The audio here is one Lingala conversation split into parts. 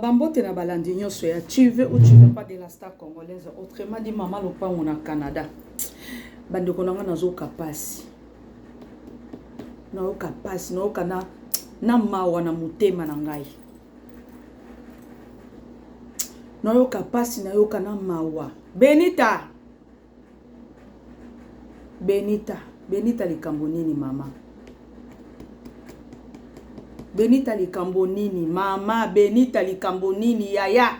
bambote na balandi nyonso ya tuve ou tu veux pas de la star congolaise autrement dit mama lopango na canada bandeko na ngai nazoyoka mpasi nayoka mpasi nayoka na na mawa na motema na ngai nayoka mpasi nayoka na mawa benita Benita benita likambo nini mama benita likambo nini mama benita likambo nini yaya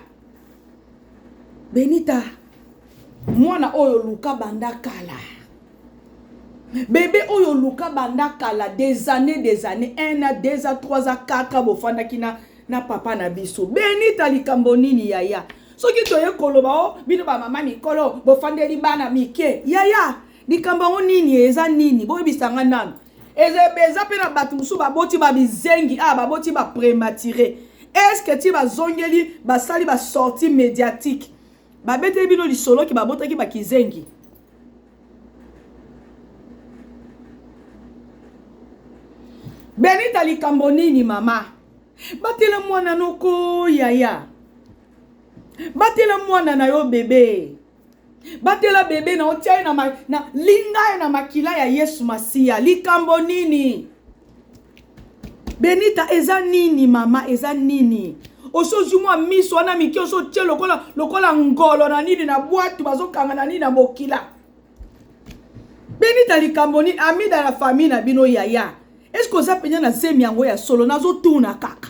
benita mwana oyo luka banda kala bebe oyo luka banda kala des années des années 1 a 2 a 3 a 4 a bofandaki na na papa na biso benita likambo nini yaya soki toye koloba o oh, bino bamama mikolo bofandeli bana mike yaya likambo yango nini eza nini boyebisa ngai nano eza mpe na bato mosusu baboti babizengi a ah, baboti baprematire estce ti bazongeli basali basorti médiatique babeteli bino lisolo ke babotaki bakizengi benita likambo nini mama batela mwana noko yaya batela mwana na yo bebe batela bebe na otya ye na, ma, na linga ye na makila ya yesu masiya likambo nini benita eza nini mama eza nini osozwi mwa miso wana mike osotye lokola lokola ngolo na nini na bwatu bazokanga na nini na bokila benita likambo nini amida na famille na bino yaya eske oza mpenza na zemi yango ya solo nazotuna kaka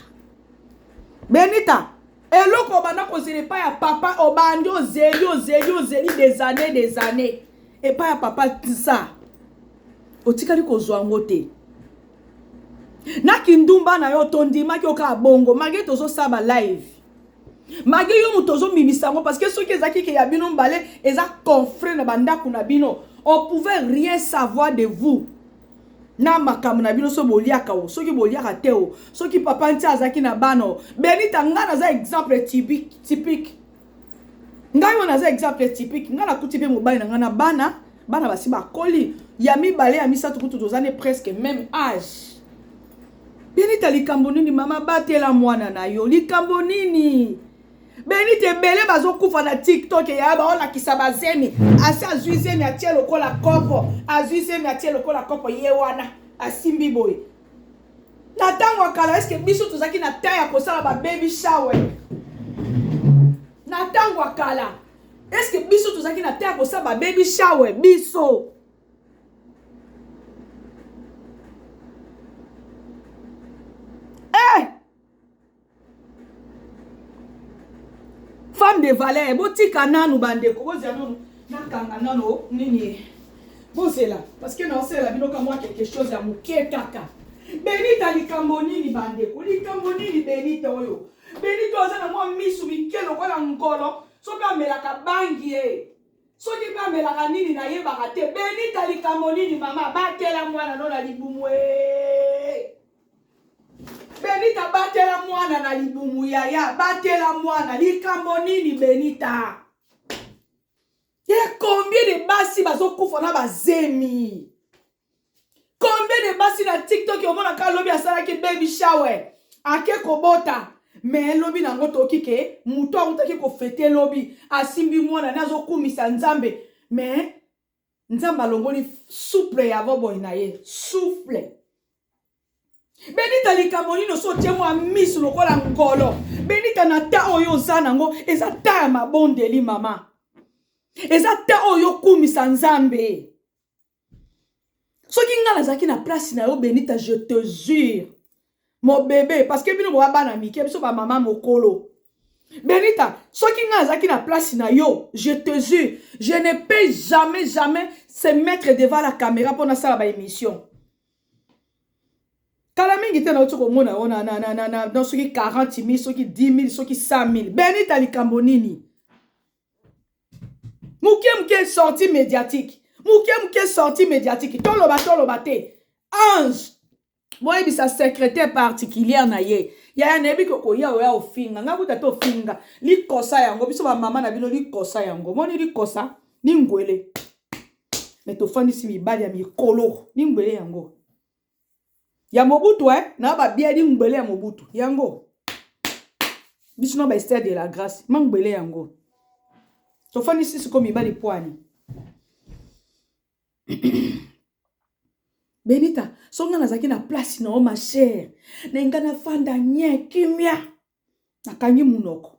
benita eloko obanda kozela epai ya papa obandi ozeli ozeli ozeli des années des années epai ya papa tisa otikali kozwa yango te na kindumba na yo tondimaki okaa bongo malgre tozosaba live magi yo moto ozobimisa yango parce que soki ezalaki ke ya bino mbale eza confre na bandako na bino on pouvait rien savoir de vous na makambo na bino soki boliaka o soki boliaka te o soki papa nti azalaki na bana o benita ngai naza exemple typique ngai oyo naza exemple typique ngai nakuti mpe mobali na ngai na bana bana basi bakoli ya mibale ya misato kutu toza ne presque même age Benita likambo nini mama batela mwana na yo likambo nini Benita ebele bazokufa na tiktok ya baolakisa bazemi asi azwi zemi atie lokola kopo azwi zemi atie lokola kopo ye wana asimbi boye na ntango ya kala eske biso tozalaki na temps ya kosala bababy shower na ntango ya kala eske biso tozalaki na temps ya kosala bababy shower biso eh! femme de valeur botika nanu bandeko bozela nanu nakanga nano nini bozela parce que naosela bino ka mwa quelque chose ya moke kaka benita likambo nini bandeko likambo nini benita oyo benita oza na mwa misu mike lokola ngolo soki amelaka bangi ye Soki pe amelaka nini na yebaka te Benita likambo nini mama batela mwana no na libumu ee Benita batela mwana na libumu yaya batela mwana likambo nini Benita ye combien de basi bazokufa na bazemi combien de basi na tiktok omona ka lobi asalaki baby shower ake kobota me lobi na yango toyoki ke moto akutaki kofete lobi asimbi mwana ne azokumisa nzambe me nzambe alongoli souple ya boboy na ye souple benita likambo nini osi otie mwa miso lokola ngolo benita na ta oyo oza nango eza ta ya mabondeli mama eza ta oyo okumisa nzambe soki ngai nazalaki na place na yo benita je te jure mobebe parce que bino boya bana mike biso bamama mokolo benita soki ngai nazalaki na place na yo je te jure je ne peux jamais jamais se mettre devant la caméra mpo nasala baémission kala mingi te nauti komona yo na, na, na, na, na, na soki 40 000 soki 10 000 soki 100 000 benita likambo nini moke moke sortie médiatique moke moke sortie médiatique toloba toloba te ange boyebisa secrétaire particulière na ye yaya nayebi ke koya oya ofinga ngai kuta te ofinga likosa yango biso bamama na bino likosa yango moni likosa ningwele me tofandisi mibali ya mikolo ningwele yango ya mobutu eh? na babiadi ngbele ya mobutu yango biso na baester de la grâce ma ngbele yango tofandi sisi ko mibali pwani benita so ngai nazalaki na place na yo ma chere na ngai nafanda nye kimia nakangi monoko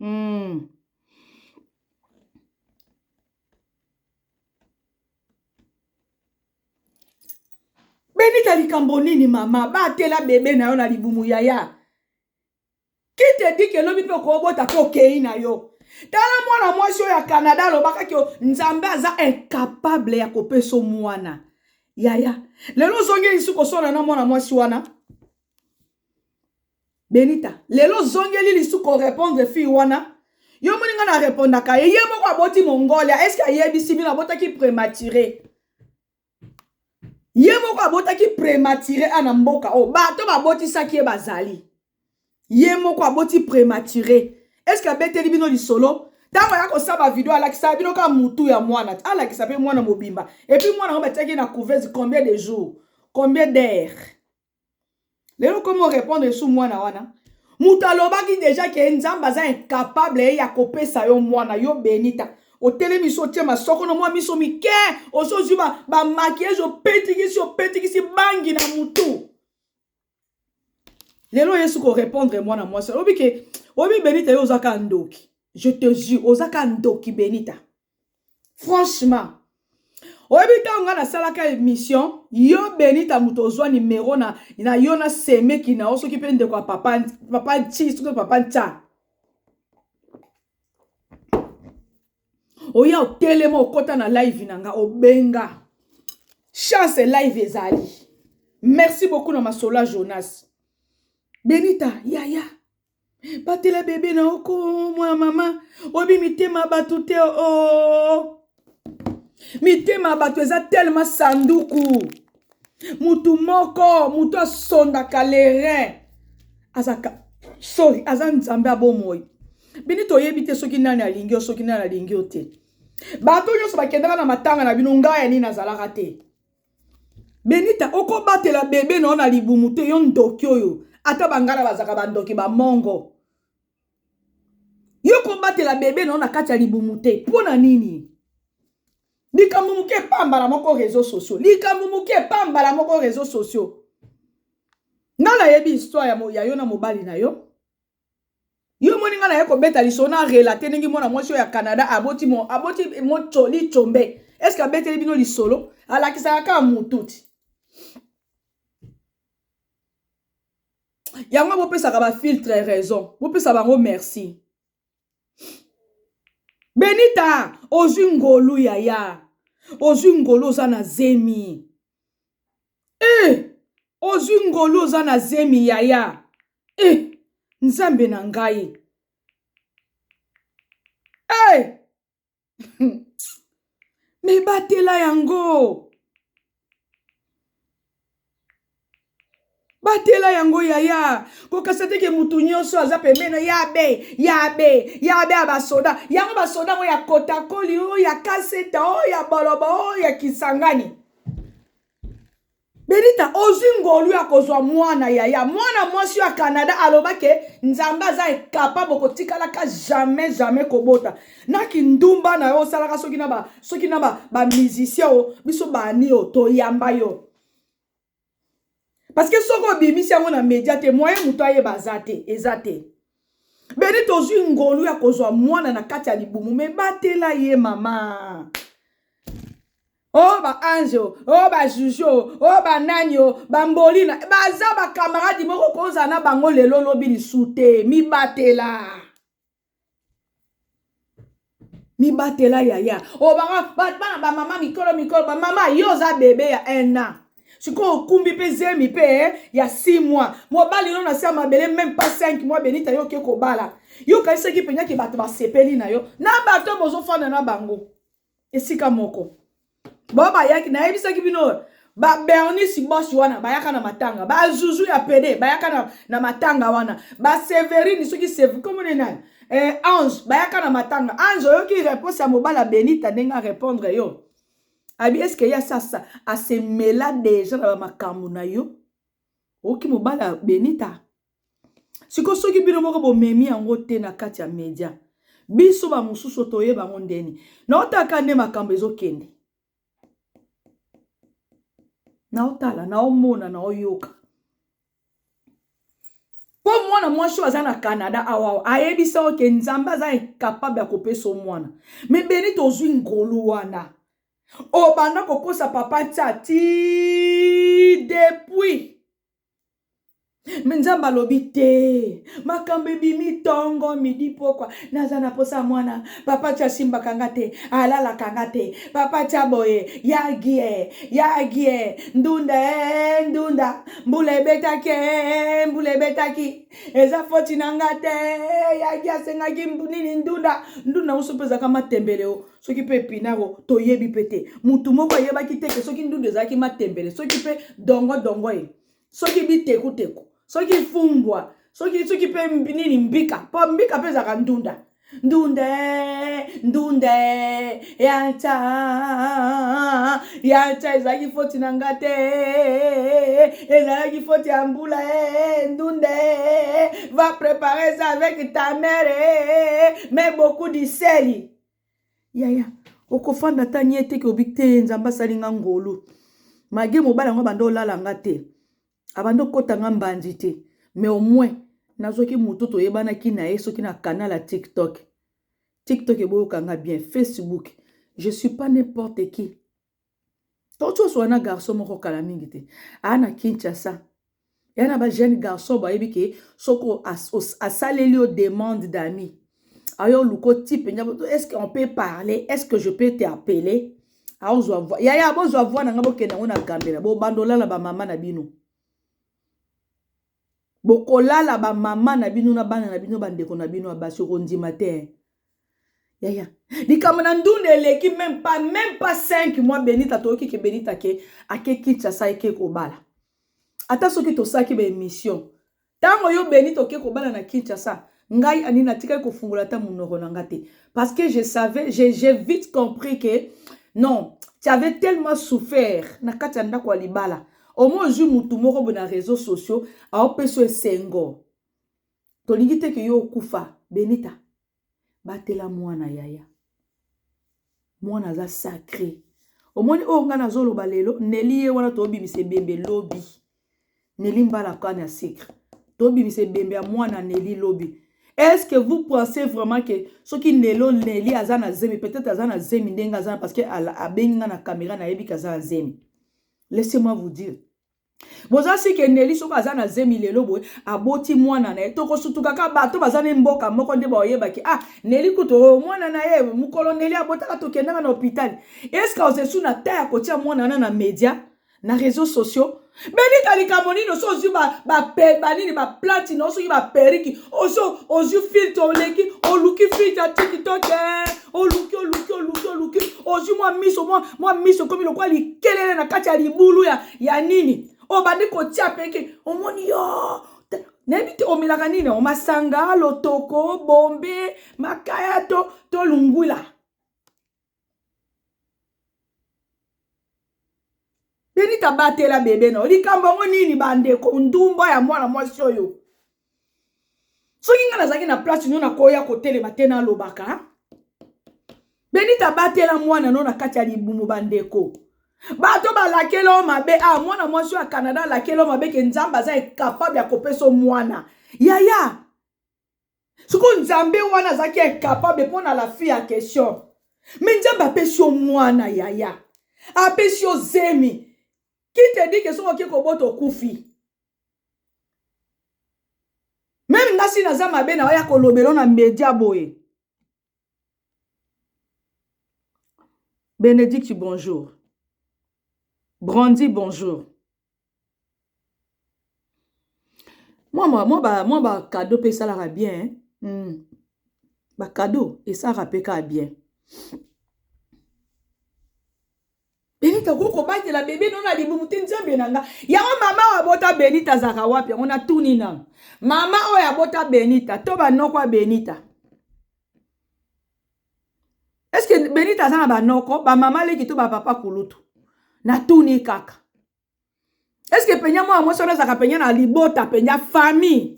Hmm. Benita likambo nini mama batela bebe na yo na libumu yaya ki te di ke lobi mpe okobota mpe okei na yo tala mwana mwasi oyo ya canada alobaka ke nzambe aza incapable ya kopesa mwana yaya lelo ozongi lisusu koswana na mwana mwasi wana Benita, lelo zongeli lisu ko repondre fille wana. Yo moni nga na repondaka ye, ye moko aboti Mongolia, est-ce que ayebisi bino abotaki premature? Ye moko abotaki premature ana mboka oyo, bato babotisaki ye bazali. Ye moko aboti premature. Est-ce que abeteli bino lisolo? Tango aya kosaba video alakisa bino ka mutu ya mwana, alakisa pe mwana mobimba. Et puis mwana ngo batiaki na couveuse combien de jours? Combien d'heures? lelo komi orepondre lisusu mwana wana moto alobaki deja ke nzambe aza incapable ye ya kopesa yo mwana yo benita otelemi so otie masoko na mwa miso mike osozwi bamakiage ba opetikisi opetikisi bangi na motu lelo yesu korepondre mwana mwasi alobi ke oyebi benita yo ozaka ndoki je te jure ozaka ndoki benita franchement oyebi ntango ngai nasalaka émission yo benita moto ozwa nimero na, na yo na semeki na yo soki mpe ndeko ya papa, papa nci soki papa nca oya otelema okota na live na nga obenga chance live ezali merci beaucoup na masola jonas benita yaya ya. batela bebe na oko mwana mama oyebi mitema ya bato te o oh. mitema ya bato eza telema sanduku motu moko motu asondaka lerin azaka sori aza nzambe ya bomoi bini toyebi te soki nani alingi yo soki nani alingi yo te bato nyonso bakendaka na matanga na bino ngai ya nini nazalaka te benita okobatela bebe na yo na libumu te yo ndoki oyo ata bangala bazalaka bandoki bamongo yo kobatela bebe na yo na kati ya libumu te mpo na nini likambo moke epambala moko réseau sociaux likambo moke epambala moko réseau sociaux nga nayebi histoire ya, ya yo na mobali na yo yo moni nga naye kobeta liso na relate ndenge mwana mwasi oyo ya canada aboti mo aboti moco licombe est ce que abeteli bino lisolo alakisaka kaka motuti yango bopesaka bafiltre raison bopesa bango merci benita ozwi ngolu yaya ozwi ngolu oza na zemi Eh! Ozwi ngolu oza na zemi yaya. Eh! Nzambe na ngai. Eh! Mais batela yango. batela yango yaya kokasa teke motu nyonso aza pembeno ya be ya be ya be ya basoda yango basoda yango ya kotakoli oyo ya kaseta oyo ya bolobo oyo ya kisangani benita ozwi ngolu ya kozwa mwana yaya mwana mwasi ya canada alobaki nzambe aza ekapable kotikalaka jamais jamais kobota na kindumba na yo osalaka soki na ba soki na ba bamusicien o biso bani o toyamba yo parceke soki obimisi yango na media te moye moto ayeba aza te eza te beni tozwi ngolu ya kozwa mwana na kati ya libumu me batela ye mama o oh, baange o oh, oh, bajuge o banani o bambolina baza bakamaradi moko kozala na bango lelo lobi lisu te mibatela mibatela yaya o bana bamama mikolo mikolo bamama yo oza bebe ya un an sikoyo okumbi mpe zemi mpe eh, ya 6 mois mobali no na se ya mabele meme pas 5 mois benita yo oke kobala yo okanisaki mpenza ke bato basepeli na yo na bato bozofanda na bango esika moko bo bayaki nayebisaki bino ba bernice bos wana bayaka na matanga ba zuzu ya pede bayaka na, na matanga wana ba severine soki sev komone nani eh, ange bayaka na matanga ange oyoki reponse ya mobala benita ndenge arepondre yo abi eske ye asasa asemela deja na bamakambo na yo oyoki mobala benita siko soki bino moko bomemi yango te na kati ya media biso bamosusu toyeba yango ndeni naotaka nde makambo ezokende naotala naomona naoyoka mpo mwana mwasi oyo aza na canada awa ayebisa oke nzambe aza incapable ya kopesa o mwana me beni tozwi ngolu wana obanda kokosa papa ntia ti depuis me nzambe alobi te makambo ebimi ntongo midi mpokwa naza na mposa ya mwana papa ti asimbaka nga te alalaka nga te papa ti aboye yagie yagie ndunda e ndunda mbula ebetaki e mbula ebetaki eza foti na nga te yagi asengaki nini ndunda ndunda mosusu mpe ezalaka matembele o soki mpe epinaro toyebi mpe te motu moko ayebaki te ke soki ndundu ezalaki matembele soki mpe dongo dongo ye soki bitekuteku soki fumbwa soki soki mpe nini mbika mpo mbika mpe ezalaka ndunda ndunde ndunde yata yata ezalaki foti na nga te ezalaki foti ya mbula e ndunde va prepare ça avec ta mère mais beaucoup diseli yaya okofanda ata nye te keobi te nzambe asali nga ngolu mage mobala yango abanda olala nga te abanda okota nga mbanzi te mais au moins nazwaki motu toyebanaki na ye soki na canal ya tiktok tiktok eboyoka nga bien facebook je suis pas n'importe qui Auti oswana na garçon moko kala mingi te aa na Kinshasa ya na ba jeune garçon bayebi ke soko asaleli yo demande d'ami ayo oluko type nyabo est-ce qu'on peut parler est-ce que je peux t'appeler aozwa voix yaya bozwa voix na nga bokende yango na gambela bobanda olala ba mama na bino bokolala ba mama na bino na bana na bino ba ndeko na bino ya basi okondima te hein? yaya likambo na ndunda eleki meme pas meme pas 5 mois benita toyoki ke benita ke ake kinshasa eke kobala ata soki tosalaki ba emission ntango yo benita oke kobala na kinshasa ngai ani natikaki kofungola ata monoko na nga te parce que je savais j'ai je vite compris que non tu avais tellement souffert na kati ya ndako ya libala Omoni ozui mutu moko boye na reseaux sociaux aopesa yo esengo. Tolingi te ke yo okufa. Benita batela mwana yaya. Mwana aza sacre. Omoni oyo ngai nazoloba lelo Nelly ye wana tobimisa ebembe lobi. Nelly mbala kane ya secre. Tobimisa ebembe ya mwana Nelly lobi. Est-ce que vous pensez vraiment que soki Nelo Nelly aza na zemi peut-être aza na zemi ndenge aza parce que abengi nga na camera na yebi kaza na zemi. laissez moi vous dire boza sike neli soki aza na zemi lelo boye aboti mwana na ye tokosutukaka bato baza na mboka moko nde baoyebaki ah neli kutu oh, mwana na ye mokolo neli abotaka tokendaka na hopitali eske ozesu na ta ya kotia mwana na na media na réseau sociaux benika likambo nini oso ozwi banini baplati na yo soki baperiki oso ozwi filtre oleki oluki filtre ya tikitoke oluki oluki oluki oluki ozwi mwa miso mwa miso ekomi lokola likelele na kati ya libulu ya, ya nini obandi kotia peke omoni yo nayebi te omelaka nini yango masanga lotoko bombe makaya to to lungwila benita batela bebe na yo likambo yango nini bandeko ndumba ya mwana mwasi oyo soki ngai nazalaki na place no nakoya kotelema te nalobaka benita batela mwana no na kati ya libumu bandeko bato balakeli yo mabe a ah, mwana mwasi oyo ya canada alakeli yo mabe ke nzambe aza incapable ya kopesa mwana yaya sikoyo nzambe wana azalaki incapable mpo na la fille ya question me nzambe apesi yo mwana yaya apesi yo zemi kite dike soki oke kobota okufi meme ngasi naza mabe na oya kolobela na media boye Benedicte bonjour Brandy bonjour mwa mwa mwa ba mwa ba cadeau pe esalaka bien hmm. ba cadeau esalaka pe kaka bien benita okoki kobatela bebe no na libumu te nzambe na nga yango mama oyo abota benita azalaka wapi yango natuni nano mama oyo abota benita to banoko ya benita eske benita aza na banoko bamama leki to bapapa kulutu natuni kaka eske penya mwana mwasi wana azalaka penya na libota penya famille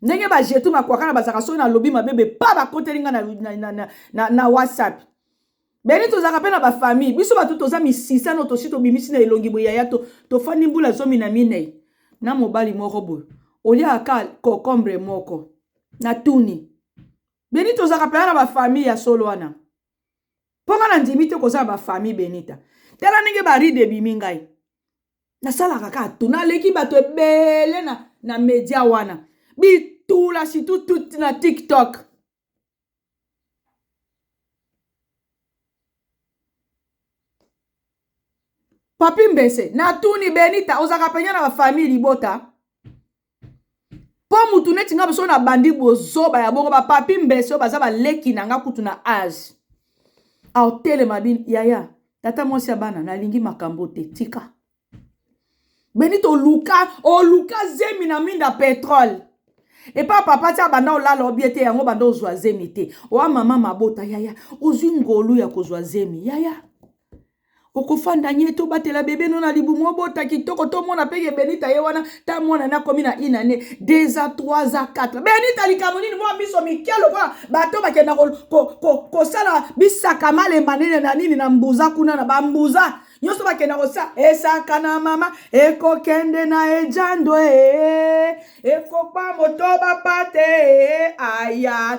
ndenge bajetu makwakana bazalaka soki nalobi mabe bepa bakoteli nga na, na, na, na, na, na whatsapp beni tozalaka mpe na bafamille biso bato toza misisano tosi tobimisi na elongi boye yaya tofandi to mbula zomi na minei na mobali moko boye oliaka ka cocombre moko na tuni beni tozalaka mpenza na bafamille ya solo wana mpo ngai nandimi te kozala bafamille benita tala ndenge baride ebimi ngai nasalaka kaka tu naleki bato ebele na, na media wana bitula situ tut na tiktok papi mbese natuni benita ozalaka mpenza na bafamille libota mpo motu neti nga biso nabandi bozoba ya bongo bapapi mbese oyo baza baleki na nga kutu na age aotelema bino yaya tata mwasi ya bana nalingi makambo te tika beni toluka oluka zemi na minda petrole epa papa ti abanda olala obie te yango banda ozwa zemi te oa mama mabota yaya ozwi ngolu ya kozwa zemi yaya okofanda nye to batela bebe no na libumu obota kitoko to mona pe ke benita ye wana ta mwana na komi na une année deux ans trois ans quatre benita likambo nini mwa miso mike lokola bato bakenda kosala ko, ko, ko, ko bisaka malemba nene na nini na mbuza kuna na bambuza nyonso bakenda kosa esaka na mama ekokende na ejando e, e, e, ekopa moto bapate e, aya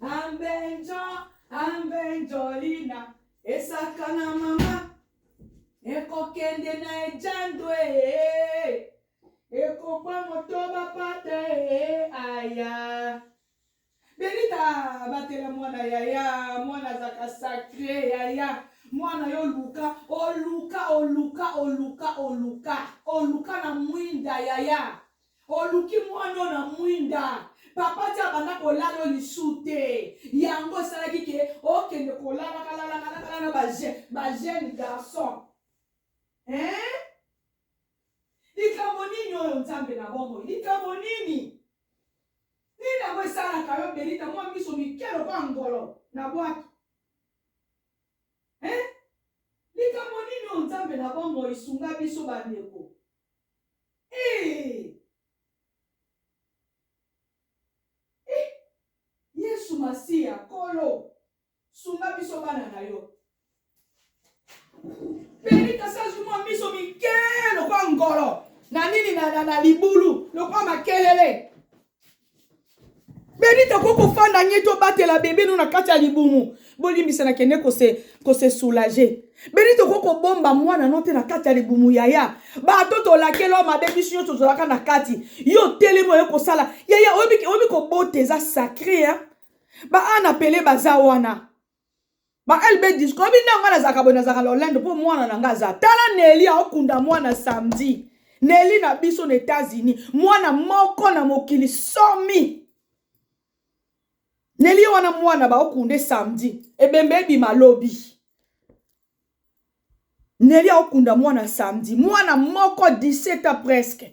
Ambenjo, ambenjolina, esaka na mama, ekokende na ejando ee, ekokwa motoba pata ee, aya. Benita batela mwana yaya, mwana azaka sacre yaya, mwana yo luka, oluka, oluka, oluka, oluka, oluka na mwinda yaya. oluki mwana oyo na mwinda papa ti abanda kolala oyo lisu te yango esalaki ke okende kolalakalalalakala na bajeune garçon eh? likambo nini oyo nzambe na bomoi likambo nini nini yango esalaka yo belita mwa miso mike lokola ngolo na bwaki eh? likambo nini oyo nzambe na bomoi sunga biso bandeko Hey! Eh! Yesu Masiya, Kolo, sunga biso bana na yo. Benita sazu mwa miso mike lokwa ngolo na nini na, na, na libulu lokwa makelele benita ko kofanda nye tobatela bebe no na kati ya libumu bolimbisa na kende kose, kose soulage benita okoki kobomba mwana no te na kati ya libumu yaya bato tolakela mabe biso nyonso tozalaka na kati yo telemi oye kosala yaya oyebi kobota eza sacre ba ana pele baza wana ba lb disco oyebi ntango ngai nazalaka boye nazalaka na olendo mpo mwana na ngai aza tala neli aokunda mwana samedi neli na biso na etats-unis mwana moko na mokili somi neli ye wana mwana baokunde samedi ebembe ebima lobi neli aokunda mwana samedi mwana moko 17 ans presque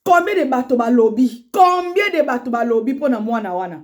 combien de bato balobi combien de bato balobi mpo na mwana wana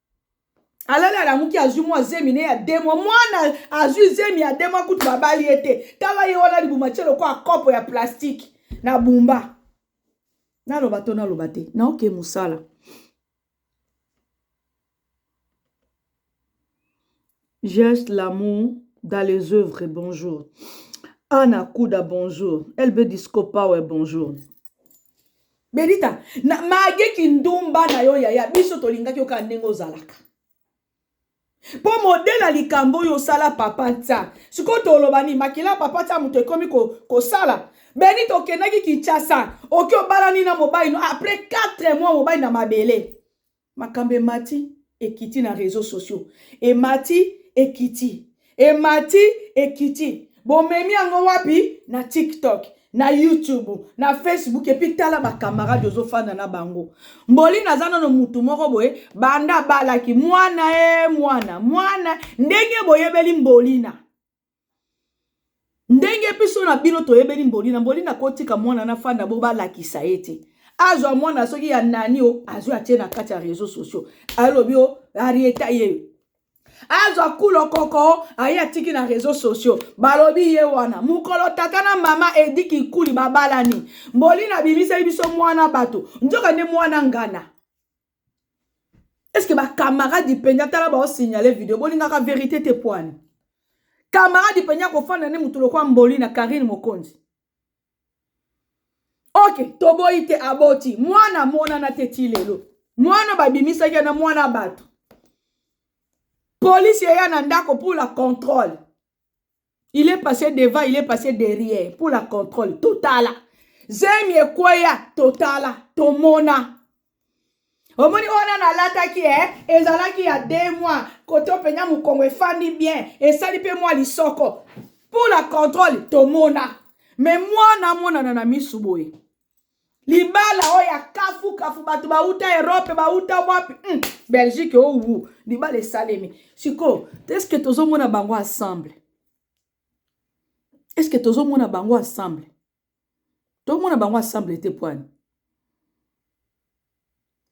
alali alamuki azwi mwa zemi ne ya demwa mwana azwi zemi ya demwa kutu babali ye te tala ye wana libuma tie lokola kopo ya plastike na bumba naloba to naloba te naoke mosala Geste l'amour dans les œuvres bonjour Anna Kuda bonjour LB Disco Power bonjour Benita na mage kindumba na yo yaya biso tolingaki yo kaka ndenge ozalaka mpo modele ya likambo oyo osala papa nta sikoyo toloba nini makila ya papa nta moto ekomi kosala ko beni tokendaki kinshasa oki obalani na mobali no après 4 mois mobali na mabele Makambo emati ekiti na reseaux sociaux. Emati ekiti. Emati ekiti. Bomemi yango wapi? Na TikTok, na YouTube, na Facebook et puis tala ba camarades ozo fanda na bango. Mboli naza nano mutu moko boye banda balaki mwana e mwana mwana ndenge boyebeli mbolina. ndenge biso na bino toyebeli mbolina mbolina kotika mwana na fanda bo balakisa ye te azwa mwana soki ya nani o azwi atie na kati ya réseau sociaux alobi o arieta ye azwa kulo koko aye atiki na réseau sociaux balobi ye wana mokolo tata na mama edi kikuli babalani mbolina bimiseli biso mwana bato nzoka nde mwana ngana est ce que ba camarade mpenza tala bao signale video bolingaka verite te poani camarade mpenza kofanda nde motu lokwa mboli na karine mokonzi ok toboyi te aboti mwana amonana te ti lelo mwana babimisaki yana mwana ya bato polisi eya na ndako pour la contrôle il est passé devant il est passé derrière pour la contrôle totala zemi ekweya totala tomona omoni oyo nana alataki e eh? ezalaki ya de mois koto mpenza mokongo efandi bien esali mpe mwa lisoko mpo na controle tomona me mwana amonana na misu boye libala oyo ya kafu kafu bato bauta europe bauta wapi mm. belgique owu oh, oh. libala esalemi sikoyo eske tozomona bango ensemble eske tozomona bango ensemble tomona bango ensemble te poani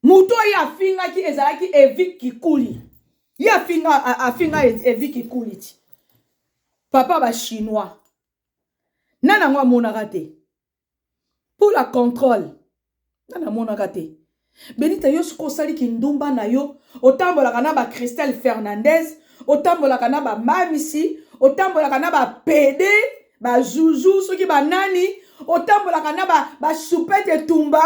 moto oyo afingaki ezalaki evi kikuli ye afinga afinga evi kikuli ti papa bachinois nani yango amonaka te pour la contrôle nga namonaka te benita yo soki osali kindumba na yo otambolaka na ba christelle fernandez otambolaka na ba mamisi otambolaka na ba pede ba zuzu soki banani otambolaka na ba, ba supete tumba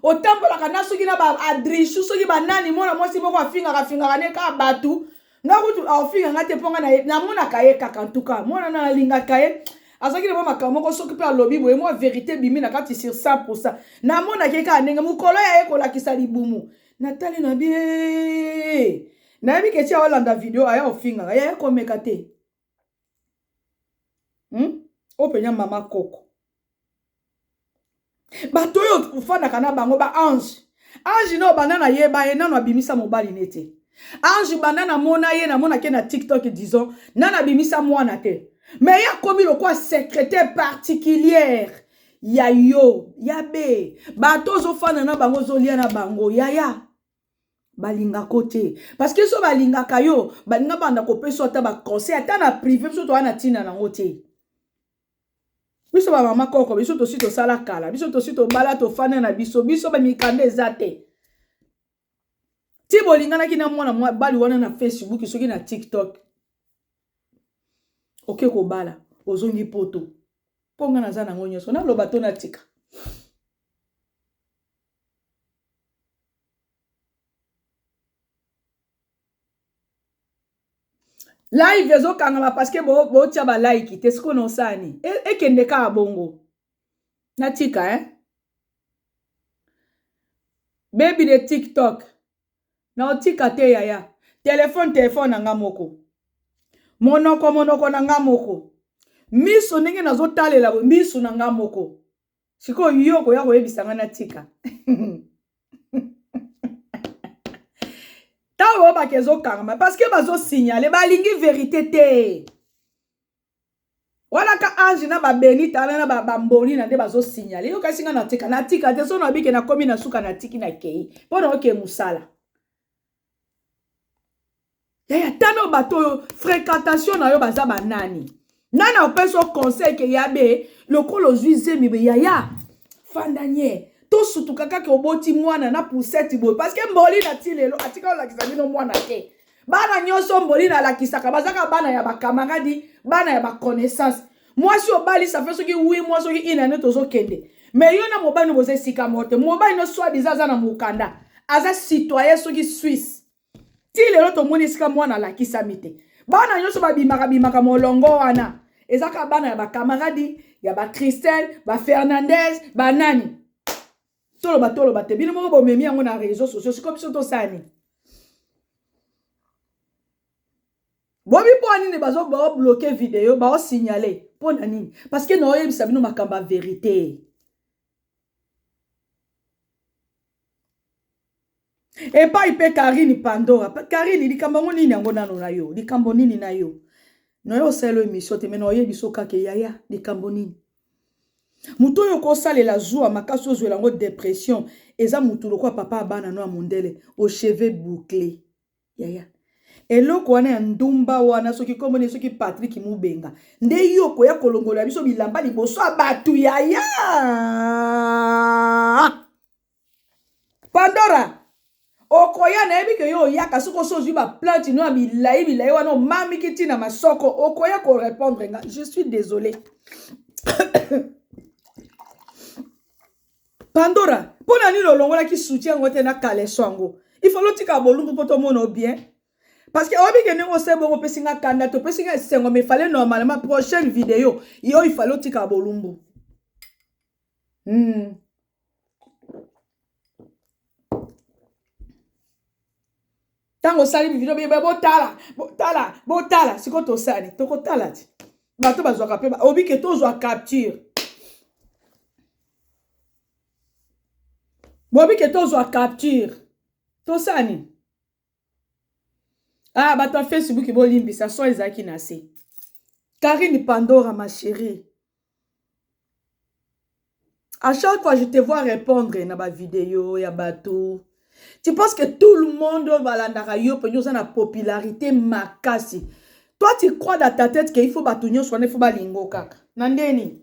otambolaka na soki na ba adrisu soki banani mwana mwasi moko afingaka fingaka ne kaka bato nga kutu aofinga nga te mpo nga namonaka ye kaka ntuka mwana na alingaka ye azalaki na mwa makambo moko soki mpe alobi boye mwa verité ebimi na kati sur 100 pourcent namonaki ye kaka ndenge mokolo ya ye kolakisa libumu natali na bie nayebi ke ti aolanda video aya ofingaka yaya komeka te hmm? oyo mpenza mama koko bato oyo ofandaka na bango ba ange ange na obanda na ye baye nano abimisa mobali ne te ange banda namona ye namonake na tiktok disons nano abimisa mwana te me ye akomi lokola secrétaire particulière ya yo ya be bato ozofanda na bango ozolia na bango yaya balinga ko te parce que so balingaka yo balinga banda kopesa ata ba conseil ata na privé biso toa na tina nango te biso ba mama koko biso tosi tosala kala biso tosi tobala tofanda na biso biso ba mikanda eza te ti bolinganaki na mwana mobali wana na facebook soki na tiktok oke kobala ozongi poto mpo ngai naza nango nyonso naloba to natika live ezokangama parceke botya balaiki te sikoyo nosani e, ekende kaka bongo natika eh? bebi de tiktok naotika te yaya telefone telefone na nga moko monoko monoko na nga moko miso ndenge nazotalela miso na nga moko sikoyo yo okoya koyebisa ngai natika ntango oyebaka ezokangama parceke bazosignale balingi verite te wana ka ange na babeni tala na bamboni na nde bazosignale yo kasi ngai natika natika te sono abike nakomi na suka natiki na kei mpo na oke mosala yaya eh, tala bato oyo fréquentation na yo baza banani nani apesi yo conseil ke ya be lokola ozwi zemi be yaya fanda nye tosutuka kaka oboti mwana na puseti boye parceke mboli na ti lelo atika olakisa bino mwana te bana nyonso mboli nalakisaka bazaka bana ya bakamaradi bana ya baconnaissance mwasi obali safe soki wi mwa soki ina nde tozokende me yo na mobali no boza esika moko te mobali no swadiza aza na mokanda aza citoyen soki swisse ti lelo tomoni esika mwana alakisami te bana nyonso babimaka bimaka molongo wana eza kaka bana ya bakamaradi ya bacristel bafernandez banani toloba toloba te bino moko bomemi yango na réseau sociaux siko biso tosani bobi mpo nini bazo bao bloke video bao signale mpo na nini parce que naoyebisa bino makambo ya verite epai mpe karine pandora karine likambo yango nini yango nano na yo likambo nini na yo nayo osalelo emission te me naoyebi so kaka yaya likambo nini moto oyo okosalela zuwa makasi ozwela yango depression eza motu lokola papa ya bana no ya mondele ocheve boucle yaya eloko wana ya ndumba wana soki kombo ne soki patrik mubenga nde yo okoya kolongola biso bilamba liboso ya bato yaya pandora okoya nayebi ke yo oyaka soki osi ozwi baplante no ya milai milai wana omamiki ntina masoko okoya korepondre nga je suis désolé Pandora, mpo na nini olongolaki soutien yango te na kaleso yango? Il faut lotika bolumbu mpo tomona o bien. Parce que oyebi ke ndenge osali bongo opesi nga kanda te, opesi nga esengo mais fallait normalement prochaine video yo il fallait otika bolumbu. Hmm. ntango osali video bebe botala botala botala sikoyo tosali tokotala ti bato bazwaka mpe obi ke tozwa capture bobi ke tozwa capture tosala nini ah bato ya facebook bolimbisa so ezalaki na se karine pandora ma cherie A chaque fois je te vois repondre na ba video ya bato tu penses que tout le monde oyo balandaka yo mpenza oza na popularité makasi toi tu crois dans ta tête que il faut bato nyonso wana il faut balingo kaka na nde nini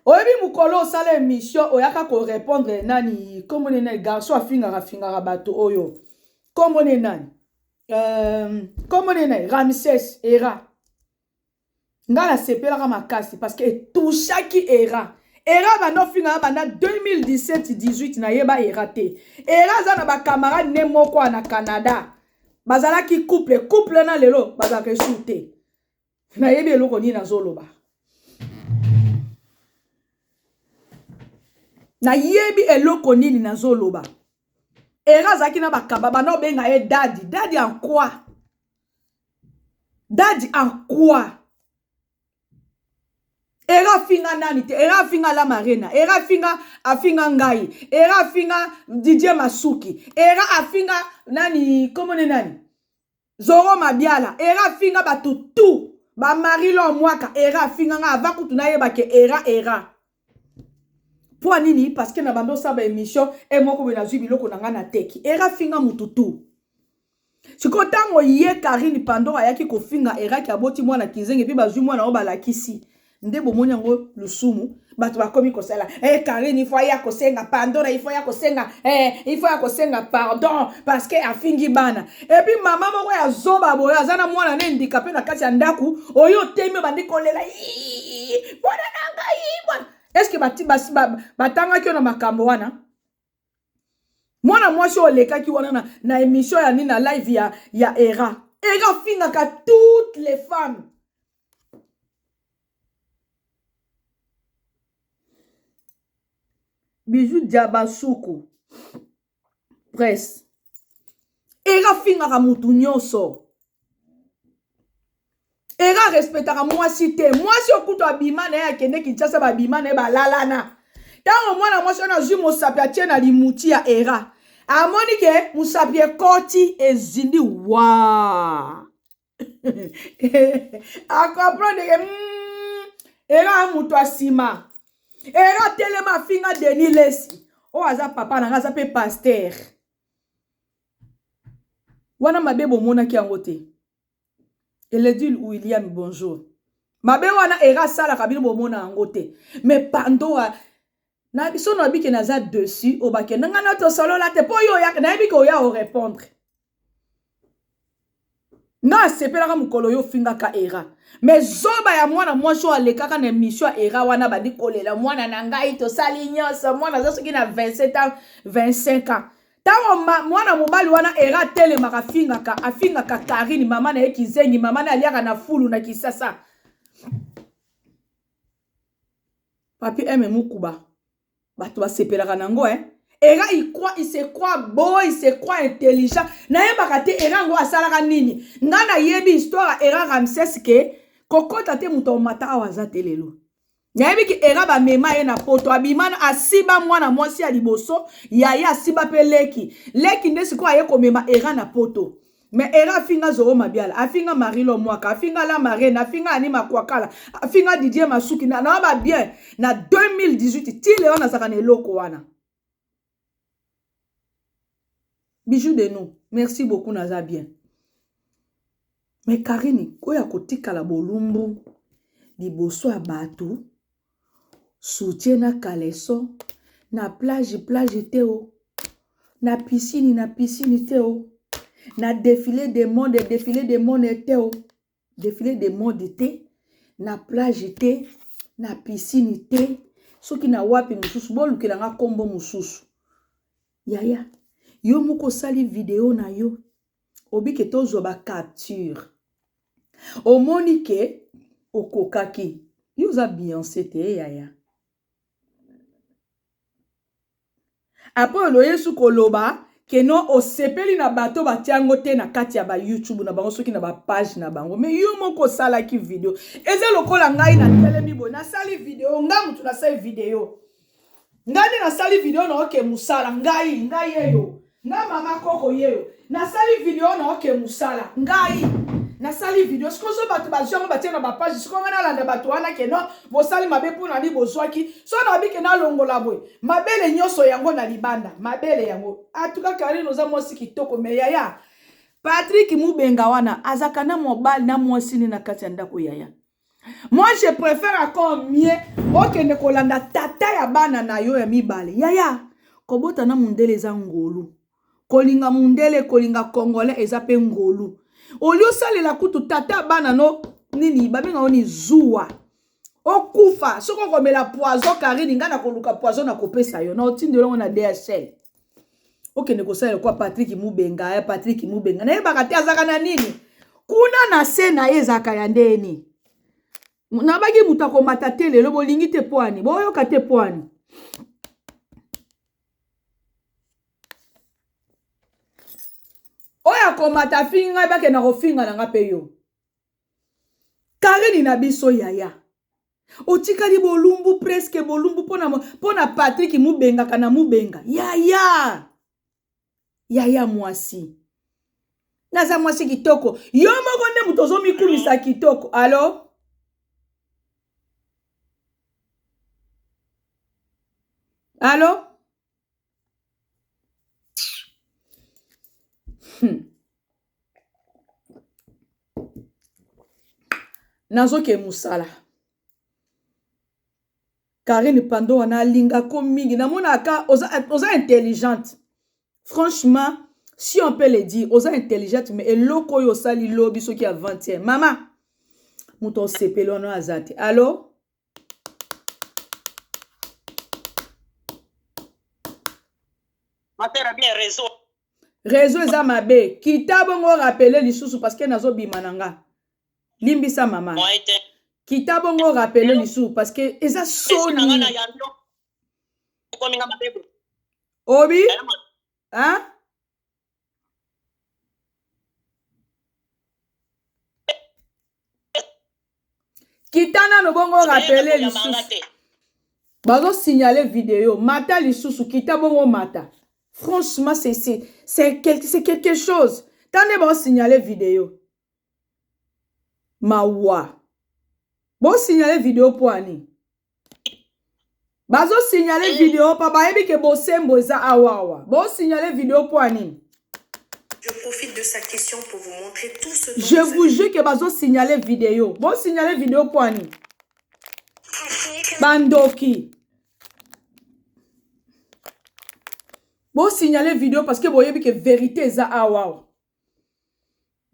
oyebi mokolo osala émission oyaka korépondre nani nkombo ne nani garçon afingaka fingaka bato oyo nkombo ne nani nkombo euh, ne nani ramses era nga na sepelaka makasi parce que etouchaki era era banda ofinga ya banda 2017 18 nayeba era te era aza na bacamarade ne moko na canada bazalaki couple couple na lelo bazalaka esur te nayebi eloko nini nazoloba nayebi eloko nini nazoloba era azalaki na bakaba banda obenga ye dadi dadi en quoi Daddy en quoi? Herve afinga nani te? Herve afinga la marina. Herve afinga afinga ngai. Herve afinga Didier Masuki. Herve afinga nani comment ne nani? Zoro Mabiala. Herve afinga batu tout. Ba Marilon Mwaka. Herve afinga nga ava kutu na yeba ke era era. Pwa nini parce que na bando sa ba émission et moko boye nazui biloko na nga na teki. Era finga mutu tout. Siko tango ye Karine Pandora ayaki kofinga Eraki aboti mwana kinzenge puis bazui mwana oyo balakisi. Nde bomoni yango lusumu bato bakomi kosala eh, Karine ifo aya kosenga Pandora ifo aya kosenga eh, ifo aya kosenga pardon parce que afingi bana epi mama moko ya zoba boye aza na mwana na endika mpe na kati ya ndako oyo otemi obandi kolela mwana na ngai mwana eske batangaki yo na makambo wana mwana mwasi oyo olekaki wana na, na emission ya nini na live ya, ya era era afingaka toutes les femmes bijou diabasuku presse ere afingaka mutu nyonso ere arespectaka mwasi te mwasi okutu abima na ye akende kinshasa babima na ye balalana ntango mwana mwasi wana azwi mosapi atie na limuti ya era amoni ke mosapi ekoti ezindi waa akomprendre ke hmm, era moto ya nsima era telema afinga denis lesi oyo aza papa na ngai aza mpe paster wana mabe bomonaki yango te eledil william bonjour mabe wana era asalaka bino bomona yango te me pandoa na biso na bike naza dessus obakenda nga na tosolola te mpo yo oyaka nayebi ke oya orepondre nga asepelaka mokolo yo ofingaka era me zoba ya mwana mwasi oyo alekaka na emission ya era wana bandi kolela mwana na ngai tosali nyonso mwana aza soki na 27 ans 25 ans ntango mwana mobali wana era atelemaka afingaka afingaka karine mama na ye kizengi mama na aliaka na fulu na kisasa Papy aime mukuba batu basepelaka na ngo eh. Era il croit il se croit beau, il se croit intelligent. Nayebaka te era ngo asalaka nini. Nga nayebi histoire ya era Ramses ke kokota te moto omata awa aza te lelo. Nayebi ke era bamema ye na poto abima na- asiba mwana mwasi ya liboso yaya asiba pe leki. Leki nde sikoyo aye komema era na poto. mais era afinga zoro mabiala afinga marilo mwaka afinga la marraine afinga ani makwakala afinga didier masuki na na ba bien na 2018 ti leo nazaka na eloko wana bijou de nous merci beaucoup naza bien mais karini oyo akotikala bolumbu liboso ya bato Soutien na caleçon na plage plage te o na piscine na piscine te o na defile de monde defile de monde te o defile de monde te na plage te na piscine te soki na wapi mosusu bolukela nga nkombo mosusu yaya yo moko osali video na yo obike tozwa bacapture omoni ke okokaki yo oza beyonce te yaya apres oloye su koloba keno osepeli na bato batya yango te na kati ya bayoutube na bango soki na bapage na bango me yo moko osalaki video eza lokola ngai natelemi boye nasali video ngai motu nasali video ngai nde nasali video na oke mosala ngai ngai yeyo ngai mama koko yeyo nasali video na oke mosala ngai nasali video sikoyo so bato bazwi yango batie na bapage sikoyo ngai nalanda bato wana keno bosali mabe mpo nani bozwaki so nabi ke nalongola boye mabele nyonso yango na libanda mabele yango atuka karine oza mwasi kitoko me yaya patrik mubenga wana azalaka na mobali na mwasi nde na kati ya ndako yaya Moi je préfère encore mieux okende kolanda tata ya bana na yo ya mibale. Yaya, kobota na mundele eza ngolu. Kolinga mundele, kolinga congolais eza pe ngolu. Olio salela kutu tata bana no nini babenga oni zuwa. Okufa soki okomela poison Karine ngai nakoluka poison nakopesa yo na otindelo na DHL. okende kosala lokwa patrik mubenga ya patrik mubenga nayebaka te azalaka na nini kuna na se na ye ezalaka ya ndenge nini nabaki moto akomata te lelo bolingi te pwani boyoka te pwani oyo akomata afingi ngai bakenda kofinga na ngai mpe yo karini na biso yaya otikali bolumbu preske bolumbu mpo na patrik mubengaka na mubenga yaya yaya mwasi naza mwasi kitoko yo moko nde moto ozomikumisa kitoko alo alo hmm. nazoke mosala karine pando wana alinga ko mingi namonaka oza, oza intelligente franchement si on peut le dire oza intelligente mais eloko oyo osali lobi soki avant-hier mama moto osepeli wana aza te alo matera bien réseau réseau eza mabe kita bongo rapele lisusu parce que nazobima na nga limbisa mama kita bongo rapele lisusu parce que eza soni obi hein kita nano bongo rapele lisusu bazosignale video mata lisusu kita bongo mata franchement c'est quelque chose ta nde baosignale video mawa bosignale video mpo ani bazo signale eh. video pa bayebi ke bosembo eza awawa bo signale video mpo ya nini Je profite de sa question pour vous montrer tout ce dont Je vous jure que bazo signaler vidéo. Bon signaler vidéo quoi ni? Bandoki. Bon signaler vidéo parce que boyebi que vérité eza awawa.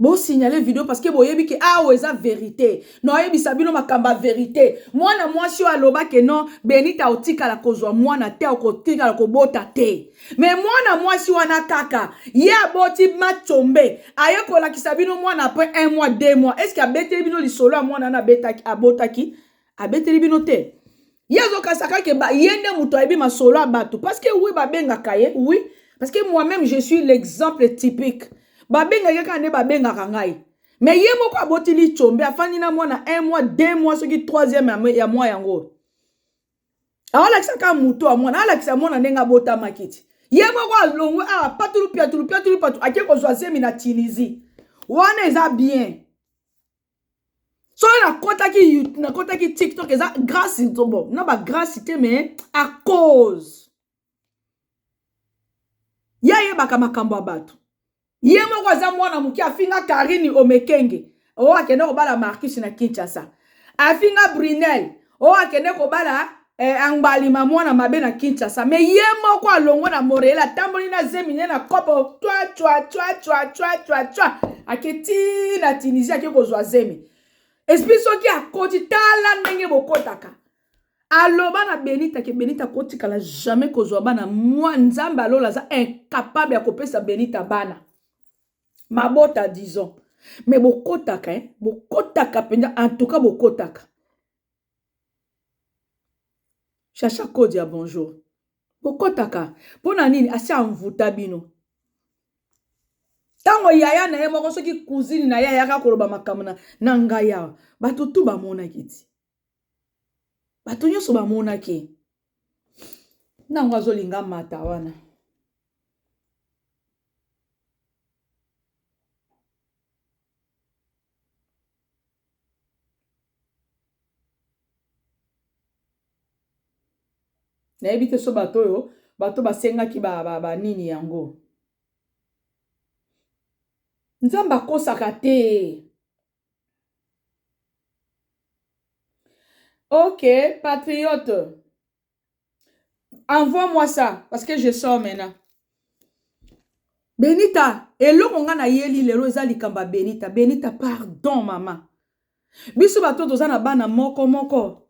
Bo signaler video parce que boyebi ke awa eza verite. Na oyebisa bino makambo ya verite. Mwana mwasi oyo aloba ke non Benita otikala kozwa mwana te okotikala kobota te. Mais mwana mwasi wana kaka ye aboti ma combe aye kolakisa bino mwana après un mois deux mois est ce que abeteli bino lisolo ya mwana wana abetaki abotaki abeteli bino te ye azokasa kake ye nde moto ayebi masolo ya bato parce que oui babengaka ye oui parce que moi-même je suis l'exemple typique babengaki kaka nde babengaka ngai me ye moko aboti licombe afandi na mwana un mois deux mois soki troisième ya mwa yango aolakisa kaka moto ya mwana alakisa mwana ndenge abotamaki ti ye moko alongwe awa ah, patulu piatulu piatulu patu ake kozwa zemi na tunisie wana eza bien soki nakotaki nakotaki tiktok eza grace nzobo na ba grace te mais a cause ye ayebaka makambo ya bato ye moko aza mwana moke afinga karini omekenge oyo oh, akende kobala marcus na kinshasa afinga brunel oyo akende kobala eh, angbalima mwana mabe na kinshasa me ye moko alongo na morel atamboli na zemi ne na kopo twa twa twa twa twa twa twa ake ti na tunisie ake kozwa zemi esprit soki akoti tala ndenge bokotaka aloba na benita ke benita akotikala jamais kozwa bana mwa nzambe alola aza incapable ya kopesa benita bana mabota disons me bokotaka eh? bokotaka mpenza antuka bokotaka chacha kodi ya bonjour bokotaka mpo na nini asi anvuta bino ntango yaya na ye moko soki kuzini na ye ayaka koloba makambo na, na ngai awa bato tu bamonaki ti bato nyonso bamonaki nango azolinga mata wana nayebi te so bato oyo bato basengaki banini ba, ba, yango nzambe akosaka te Ok, patriote. Envoie-moi ça, parce que je sors maintenant. Benita, eloko nga na yeli lelo eza likamba Benita. Benita, pardon mama. Biso bato toza na bana moko moko.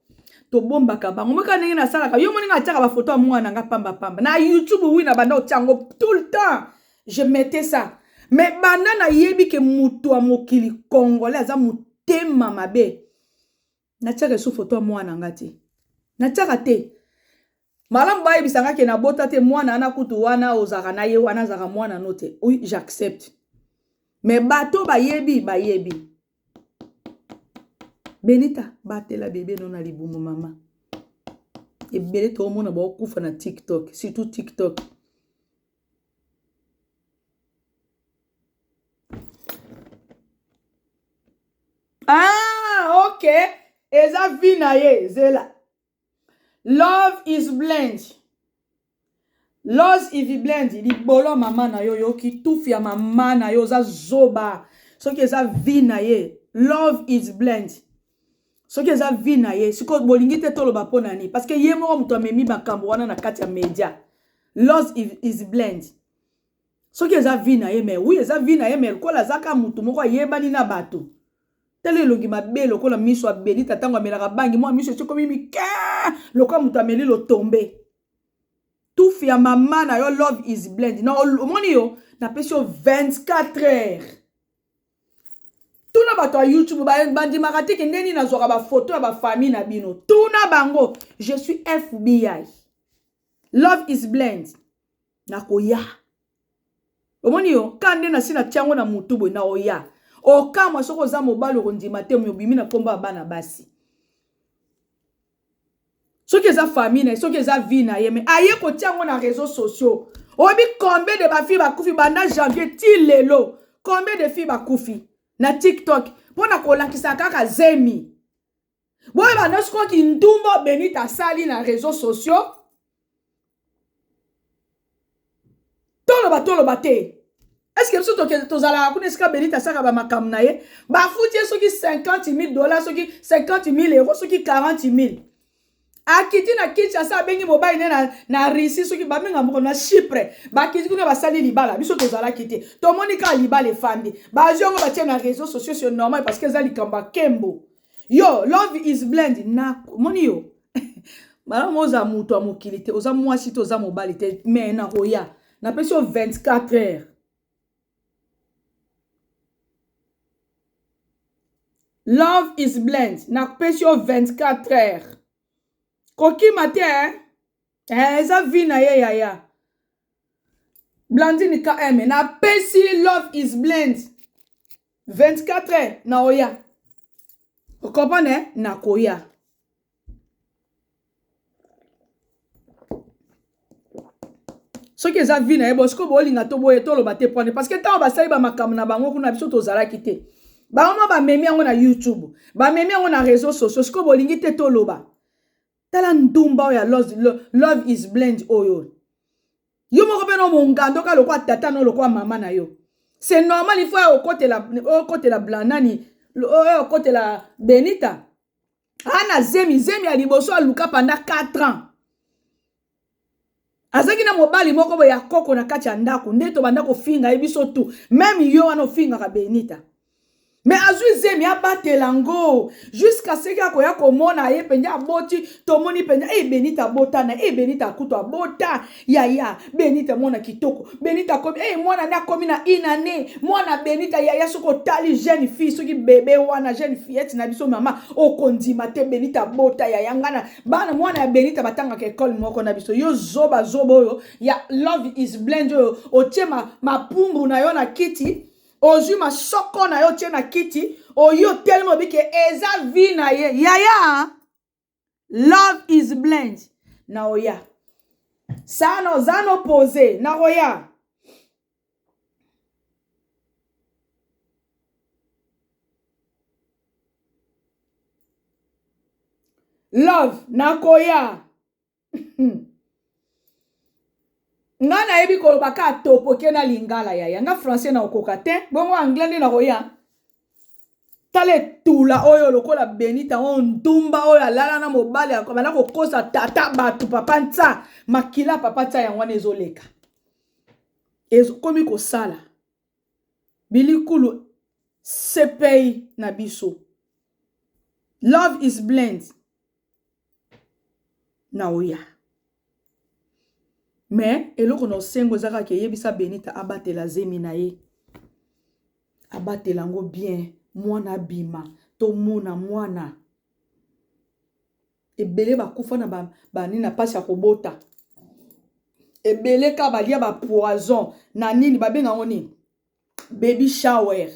tobombaka bango moka ndenge nasalaka yo moni nga atiaka bafoto ya mwana nga pamba pamba na youtube wi na banda otiango tout le temps je mettais ça mais banda nayebi ke moto ya mokili congolais aza motema mabe natiaka esu foto ya mwana nga te natiaka te malamu bayebisa nga ke nabota te mwana ana kutu wana ozalaka na ye wana azalaka mwana no te oui j'accepte mais bato bayebi bayebi benita batela bebe no na libumu mama ebele toomona baokufa na tiktok surtout tiktok ah ok eza vie na ye zela love is blind los iviblend libolo mama na yo yoki tufi ya mama na yo oza zoba soki eza vie na ye love is blind soki eza vie na ye sikoyo bolingi te toloba mpo na nini parce que ye moko moto amemi makambo wana na kati ya media los is blend soki eza vie na ye mai wi eza vie na ye mai lokola azaka motu moko ayebani na bato tala elongi mabe lokola miso abelita ntango amelaka bangi mwa miso esikomi mike lokola moto ameli lotombe tufi ya mama na yo love is blend na omoni yo napesi yo 24 heures tuna bato ya youtube bandimaka te kende nini nazwaka bafoto ya bafamille na bino tuna bango je suis fbi love is blend nakoya omoni yo ka nde nasi na tiango na motu boye naoya okamwa soki oza mobali okondima te moyo obimi na nkombo ya bana basi soki eza famille na ye soki eza vie na ye mais aye kotia yango na réseau sociaux oyebi combien de bafille bakufi banda janvier ti lelo combien de fille bakufi na tiktok mpo na kolakisa kaka zemi boye banda sikoyo kindumba benite asali na réseau sociaux toloba toloba te eske biso tozalaka kuna esika benita asaka bamakambo na ye bafuti ye soki 50 000 dollar soki 50 000 euro soki 40 000 akiti na kinshasa abengi mobali ne na, na russie soki babenga moko na chypre bakiti kuna basali libala biso tozalaki te tomoni kaka libala efandi bazwi yango batie na réseau sociaux sur normal parce que eza likambo ya kembo yo love is blend na moni yo malamu oza moto ya mokili te oza mwasi te oza mobali te me nakoya napesi yo 24 heures love is blend napesi yo 24 heures kokima te eh? Eh, eza vi na ye yaya blandine km napesi love is blend 24 heures na oya okomprendre na koya soki eza vi na ye bo sikoyo bolinga to boye toloba te pwane parce que ntango basali bamakambo na bango kuna biso tozalaki te bango mwa bamemi yango na youtube bamemi yango na réseau sociaux sikoyo bolingi te toloba tala ndumba oyo ya love, love is blend oyo yo moko mpe no mongando ka lokola tata no lokola mama na yo c'est normal il faut ya okotela okotela blanani oyo okotela benita ana zemi zemi ya liboso aluka panda 4 ans azalaki na mobali moko boye ya koko na kati ya ndako nde tobanda kofinga ye biso tu meme yo wana ofingaka benita me azwi zemi abatela yango juska seki akoya komona ye mpenza aboti tomoni mpenza e benita abota na e benita akutu abota yaya benita mwana kitoko benita akomi e mwana nde akomi na inane mwana benita yaya soki otali jeune fille soki bebe wana jeune fillette na biso mama okondima te benita abota yaya ngana bana mwana ya benita batangaka ekole moko na biso yo zoba zoba oyo ya love is blend oyo otie mapumbu na yo na kiti ozwi masoko na yo otie na kiti oyi otelemi obike eza vi na ye yaya love is blend na oya sana oza nopose na oya love nakoya nga nayebi koloba ka topoke na lingala yaya nga français nakokoka te bongo anglais nde nakoya tala etula oyo lokola benita oyo ndumba oyo alala na mobali abanda kokosa tata bato papa nsa makila papa nsa yango wana ezoleka ekomi kosala bilikulu sepei na biso love is blend na oya me eloko na osengo eza kaka eyebisa benita abatela zemi na ye abatela yango bien mwana abima tomona mwana ebele bakufa na banini ba, na mpasi ya kobota ebele kaka balia bapoison na nini babenga yango nini baby shower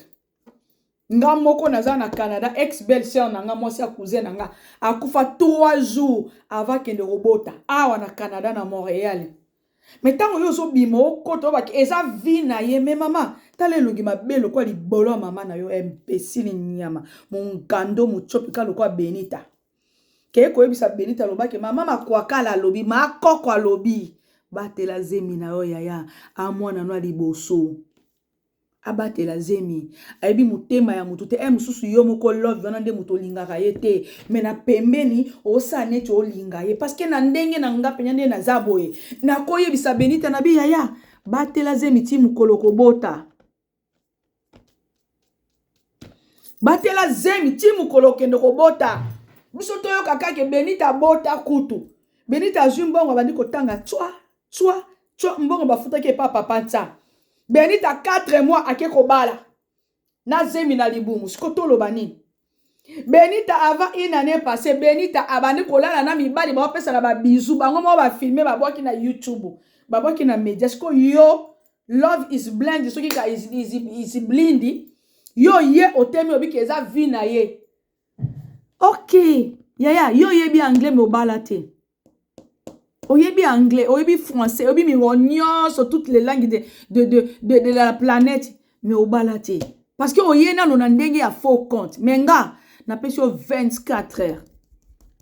nga moko naza na canada ex belle sœur na nga mwasi ya cousin na nga akufa 3 jours avant akende kobota awa na canada na montreal me ntango yo ozobima okota obaki eza vi na ye me mama tala elongi mabe lokola libolo ya mama na yo embesili nyama mongando motsopi ka lokola benita kei koyebisa benita aloba ke mama makwakala alobi makoko alobi batela zemi na yo yaya a mwana no ya liboso abatela zemi ayebi motema ya moto te e mosusu yo moko love wana nde moto olingaka ye te me na pembeni osala neti olinga ye parceke na ndenge na nga mpenza nde naza boye nakoyebisa benita na bi yaya batela zemi ti mokolo kobota batela zemi ti mokolo okende kobota biso toyoka kake benita abota kutu benita azwi mbongo abandi kotanga tswa tswa tswa mbongo bafutaki epa papa nsa benita 4 mois ake kobala na zemi na libumu siko toloba nini Benita avant une année passée, Benita abandi kolala na mibali bapesa na ba bisous, bango moko ba filmer babwaki na YouTube, babwaki na media. Siko yo love is blind soki ka is, is, is blind yo ye otemi obiki eza vie na ye. Okay. Yaya, yo oyebi anglais mais obala te. oyebi anglais oyebi français oyebi mingo nyonso toutes les langues de, de, de, de, de la planète mais obala te parce que oye nano na ndenge ya faux compte mais nga napesi yo 24 heures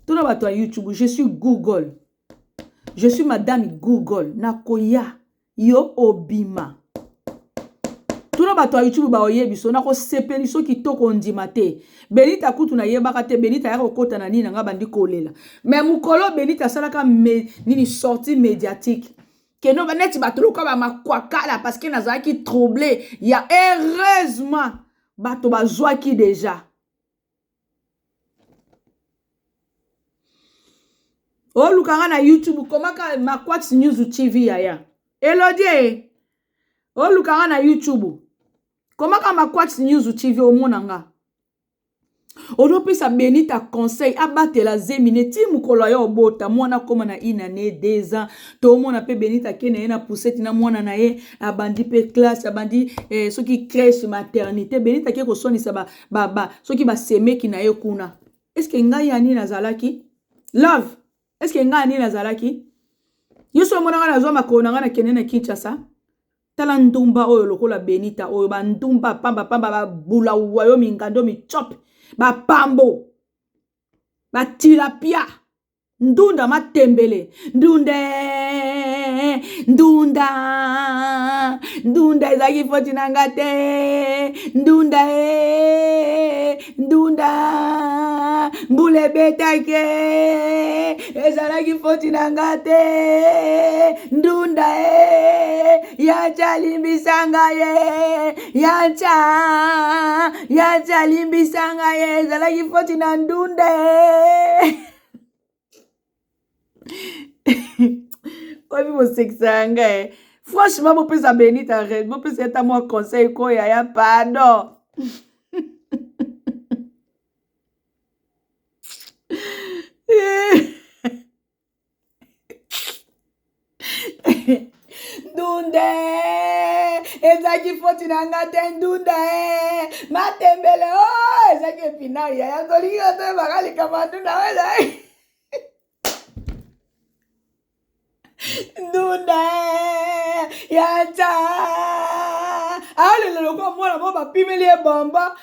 tuna bato ya youtube je suis google je suis madame google nakoya yo obima tuna bato ya youtube baoyebi so nakosepeli so kitoko ondima te benita kutu nayebaka te benita aya kokota na nini na ngai bandi kolela me mokolo benita asalaka me, nini sorti médiatique keno neti bato loka bamakwakala parceke nazalaki trouble ya heureusement bato bazwaki deja oluka nga na youtube komaka maquax news tv yaya elodie oluka nga na youtube komaka maquax news tv omona nga ozopesa benita conseil abatela zemi ne ti mokolo ya obota mwana akoma na une année deux ans tomona mpe benita ake na ye na puseti na mwana na ye abandi mpe classe abandi eh, soki crèche maternité benita ake koswanisa ba, ba, ba, soki basemeki na ye kuna eske ngai ya nini nazalaki love eske ngai ya nini nazalaki yo so omonaka nazwa makolo na ngai nakende na kinshasa tala ndumba oyo lokola benita oyo bandumba pambapamba babulawa yo mingando micope bapambo batilapia ndunda matembele ndunde ndunda ndunda ezalaki foti na nga te ndunda e ndunda mbula ebetaki ezalaki foti na nga te ndunda e yacha alimbisa nga ye yacha yacha alimbisa nga ye ezalaki foti na ndunda e oyebi bosekisa ya nga e franchement bopesa benita red bopesa ata mwa conseil ko yaya pardon ndunda ezalaki foti na nga te ndunda matembele o oh, ezalaki epinari yaya tolingi otoyebaka likambo ya ndunda oyo ezalaki ndunda ya nta aleleloko mwana mo bapimeli ye bombo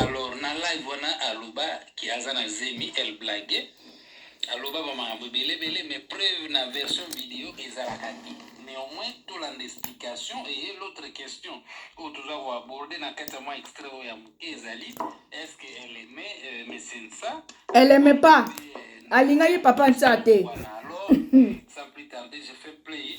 alors na live wana aloba ki aza na zemi el blague aloba ba makambo ebele ebele mais preuve na version video ezalaka te néanmoins tolanda explication eye l'autre question oyo toza koaborde na kati ya mwa extrait oyo ya moke ezali est ce que elle aime euh, mesensa elle aime pas euh, alingaki papa nsa te alors sans plus tarder je fais play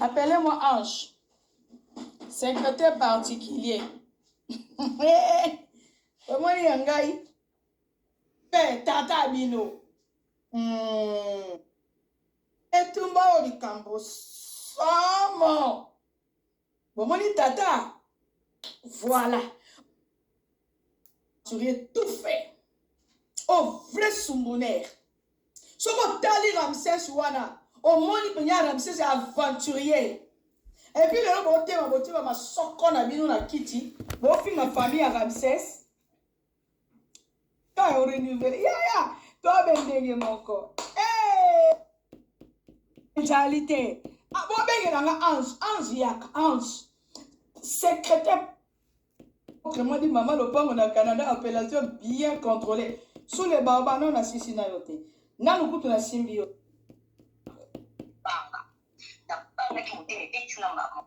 Appelez-moi Ange. Secrétaire particulier. omoni ya ngai mpe tata bino hmm. etumba oyo likambo somo bomoni tata voilà turie tout fait o oh, vrai sumbuner soki otali ramses wana omoni mpenye ramses aventurier epuis lelo botema botima masoko na bino na kiti bofinga famille ya ramses Kaka o renouveler. Ya ya, tobe ndenge moko. Eh! Ezali te. Ah, bobengela nga Ange, Ange yaka, Ange. Secrétaire autrement dit mama lopango na Canada appellation bien contrôlée. Sous le barba non na sisi na yo te. Nanu kutu na simbi yo. Banga. Na banga ki motema ebeti na mbamo.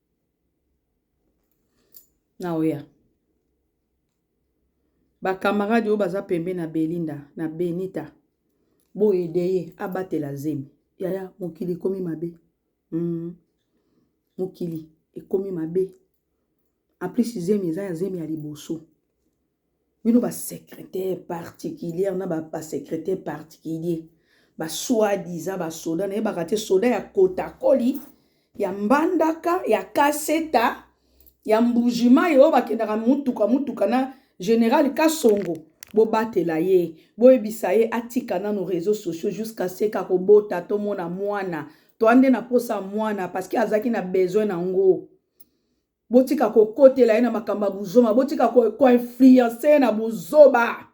naoya bakamarade oyo baza pembe na belinda na benita boyede ye abatela zemi yaya mokili ekomi mabe mm. mokili ekomi mabe en plus zemi eza ya zemi ya liboso bino ba secretaire particulière na ba secretaire particulier ba soi-disant ba soda na yebaka te soda ya kotakoli ya mbandaka ya kaseta ya mbujimayi oyo bakendaka motuka motuka na general kasongo bobatela ye boyebisa ye atika nano réseaux sociaux jusqu'à ce que akobota tomona mwana toande na mposa mwana parce que azalaki na besoin na yango Botika kokotela ye na makambo ya buzoma, botika koinfluence ye na buzoba.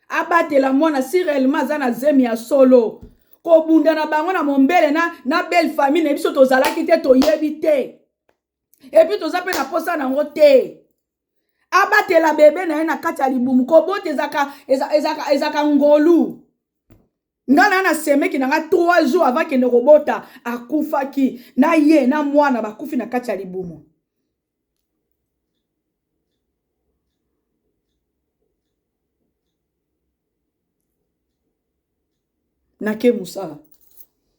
Abatela mwana si réellement aza na zemi ya solo. Kobunda na bango na mombele na, na belle famille na biso tozalaki te toyebi te. Epuis toza mpe na posa na yango te. abatela bebe na ye na kati ya libumu kobota ezaka, ezaka, ezaka, ezaka ngolu nga na na semeki na nga 3 jours avant kende kobota akufaki na ye na mwana bakufi na kati ya libumu nake mosala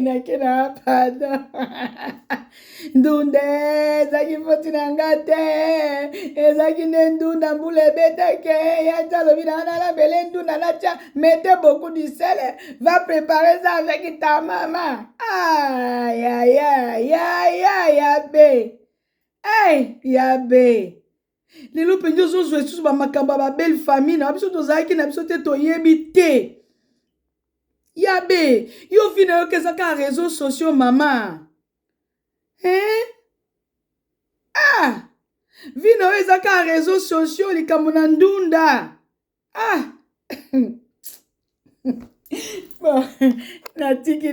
nake na pada ndunda ezalaki foti na nga te ezalaki nde ndunda mbula ebetake yaca alobi na wana nabele ndunda naca mete beaucoup du sel va prépare ça avec ta mama ayayayayaya be ey ya be lelo mpenza ozozwa lisusu bamakambo ya babelle famille na biso tozalaki na biso te toyebi te ya be yo vi na yo keza kaka réseau sociaux mama eh? ah vi na yo eza kaka réseau sociaux likambo na ndunda ah natiki